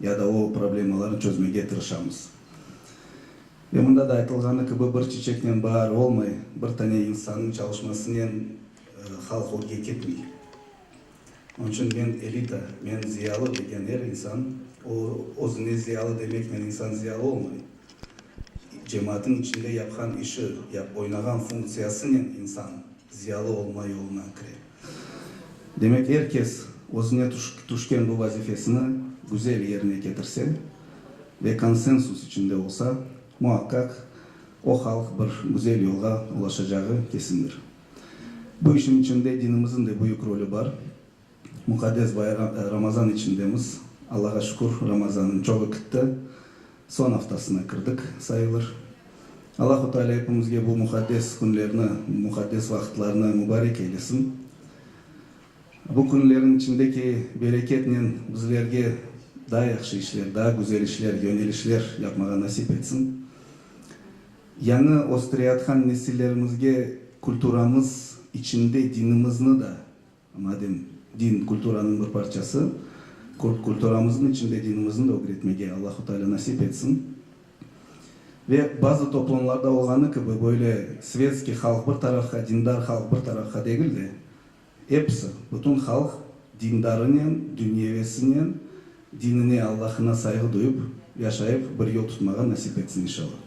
Ya da o problemalarnı çözmege tırışamız. Ve mında da aytılğanı kibi, bir çiçeknen baar olmay, bir tane insannıñ çalışmasınen halq ögge ketmey. Onıñ içün men elita, men ziyalı degen er insan, o özüne ziyalı demeknen insan ziyalı olmay. Cemaatnıñ içinde yapqan işi, oynağan funktsiyasınen insan ziyalı olma yoluna kire. Demek, er kes özüne tüşken bu vazifesini güzel yerine ketirse ve konsensus içinde olsa, muaqqaq, o halq bir güzel yolğa ulaşacağı kesindir. Bu işin içinde dinimiziñ de büyük rolü bar. Muqaddes Ramazan içindemiz. Allağa şükür, Ramazanıñ çoğı kitti. Soñ aftasına kirdik sayılır. Allahu Teala epimizge bu muqaddes künlerni, muqaddes vaqıtlarnı mubarek eylesin. Bu künlerniñ içindeki bereketnen bizlerge daa yahşı işler, daa güzel işler, yönelişler yapmağa nasip etsin. Yañı östüreyatqan nesillerimizge kültüramız içinde dinimizni da Madem din kulturanıñ bir parçası, kulturamıznıñ içinde dinimizni de ögretmege Allahu Teala nasip etsin. Ve bazı toplumlarda olğanı kibi, böyle svetskiy halq bir tarafqa, dindar halq bir tarafqa degil de, episi, bütün halq dindarınen, dünyevesinen, dinine, Allahına sayğı duyıp, yaşayıp, bir yol tutmağa nasip etsin, inşallah.